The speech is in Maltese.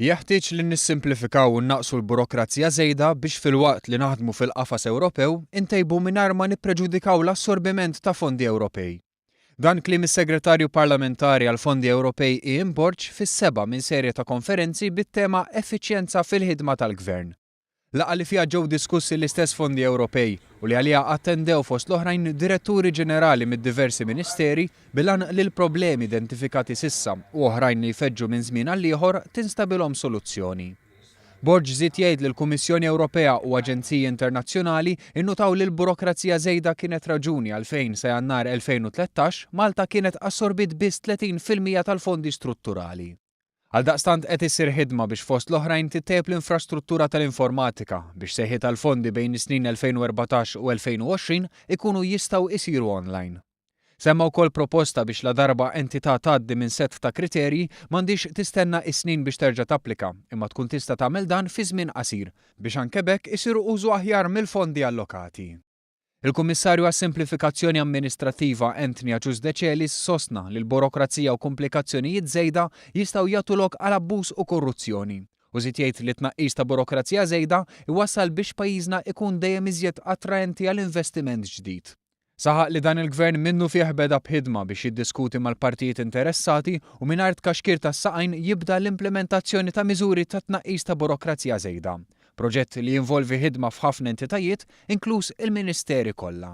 Jeħtieġ li nissimplifikaw u nnaqqsu l-burokrazija żejda biex filwaqt li naħdmu fil-Qafas Ewropew intejbu mingħajr ma nippreġudikaw l-assorbiment ta' fondi Ewropej. Dan kliem is-Segretarju Parlamentari għall-Fondi Ewropej Ian Borg fis-seba' minn serje ta' konferenzi bit-tema Effiċjenza fil-ħidma tal-Gvern. Laqgħa li fiha ġew diskussi l-istess fondi Ewropej u li għaliha attendew fost l-oħrajn Diretturi Ġenerali mid-diversi Ministeri bil-għan li l-problemi identifikati s'issa u oħrajn li jfeġġu minn żmien għal ieħor tinstabilhom soluzzjoni. Borg żied jgħid li l-Kummissjoni Ewropea u aġenziji internazzjonali nnutaw li l-burokrazija żejda kienet raġuni għalfejn sa Jannar 2013 Malta kienet assorbiet biss 30 fil-mija tal-fondi strutturali. Għaldaqstant qed issir ħidma biex fost l-oħrajn tittejjeb l-infrastruttura tal-informatika biex sejħiet għall-fondi bejn is-snin 2014 u 2020 ikunu jistgħu isiru online. Semma wkoll proposta biex ladarba entità tgħaddi minn sett ta' kriterji m'għandhiex tistenna is-snin biex terġa' tapplika imma tkun tista' tagħmel dan fi żmien qasir biex anke b'hekk isir użu aħjar mill-fondi allokati. Il-Kummissarju għas-Simplifikazzjoni Amministrattiva Anthony Agius Decelis sostna li l-burokrazija u kumplikazzjonijiet żejda jistgħu jagħtu lok għal abbuż u korruzzjoni u żied jgħid li t-tnaqqis ta' burokrazija żejda jwassal biex pajjiżna ikun dejjem iżjed attraenti għal investiment ġdid. Saħaq li dan il-Gvern minnufih beda b'ħidma biex jiddiskuti mal-partijiet interessati u mingħajr tkaxkir tas-saqajn jibda l-implimentazzjoni ta' miżuri ta' tnaqqis ta' burokrazija żejda Proġett li jinvolvi ħidma f'ħafna entitajiet, inkluż il-Ministeri kollha.